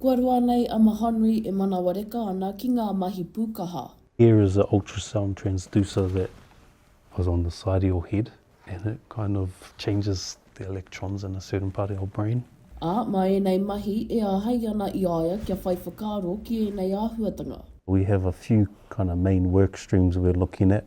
Kua roa nei a Mahanui e manawa reka ana ki ngā mahi pūkaha. Here is a ultrasound transducer that was on the side of your head and it kind of changes the electrons in a certain part of your brain. Ā, mā ēnei mahi e āhei ana i a ia kia whai whakaaro ki ēnei āhuatanga. We have a few kind of main work streams we're looking at.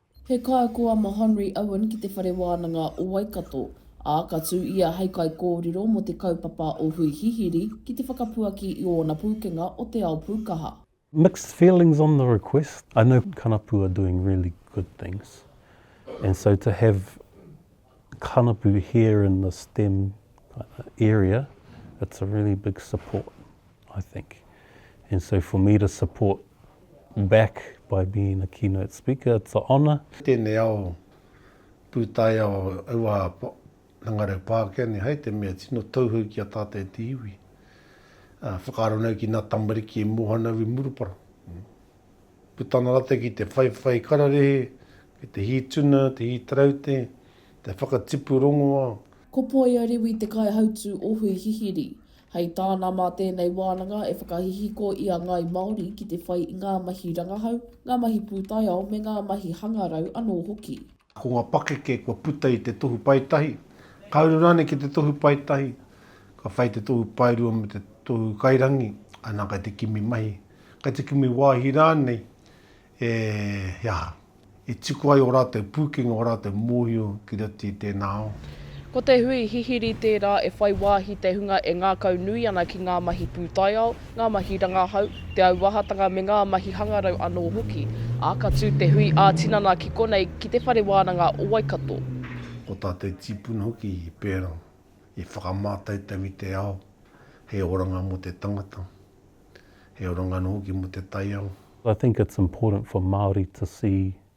He kaiako a Mahonri Owen ki Te Whare Wānanga o Waikato, ā, ka tū ia hei kaikōrero mō te kaupapa o Hui Hihiri ki te whakapuaki i ōna pūkenga o te ao pūkaha. Mixed feelings on the request, I know Kanapū are doing really good things and so to have Kanapu here in the stem area it's a really big support I think and so for me to support back by being a keynote speaker it's a honour. Tēnei ao pūtaiao aua hangarau Pākehane hai te mea tino tauhou ki a tātou e te iwi. Whakaaro nau ki nā tamariki e mōhio nau i Murupara. Putanga rate ki te whaiwhai kararehe, ki te hī tuna, te hī taraute, te whakatipu rongoa. Ko Poia Rewi te kaihautū o Hui Hihiri. Hei tāna mā tēnei wānanga e whakahihiko i a ngāi Māori ki te whai i ngā mahi rangahau, ngā mahi pūtaiao me ngā mahi hangarau anō hoki. Ko ngā pakeke kua puta i te Tohu Paetahi, ka uru rānei ki te Tohu Paetahi, ka whai te Tohu Paerua me te Tohu Kairangi, anā, kei te kimi mahi, kei te kimi wāhi rānei, e, he aha, e tiko ai ō rātou pūkenga, ō rātou mōhio ki roto i tēnā ao. Ko te hui hihiri tērā e whai wāhi te hunga e ngākaunui ana ki ngā mahi pūtaiao, ngā mahi rangahau, te auahatanga me ngā mahi hangarau anō hoki, ā, ka tū te hui ā-tinana ki konei ki Te Whare Wānanga o Waikato. Ko tā te tīpuna hoki i pērā, i whakamātautau i te ao, he oranga mō te tangata, he oranga anō hoki mō te taiao. I think it's important for Māori to see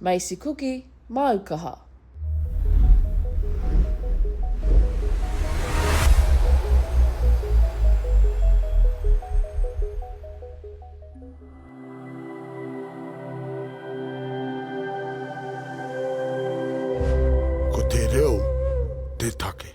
Macy Kuki, māu kaha. Ko te reo te take.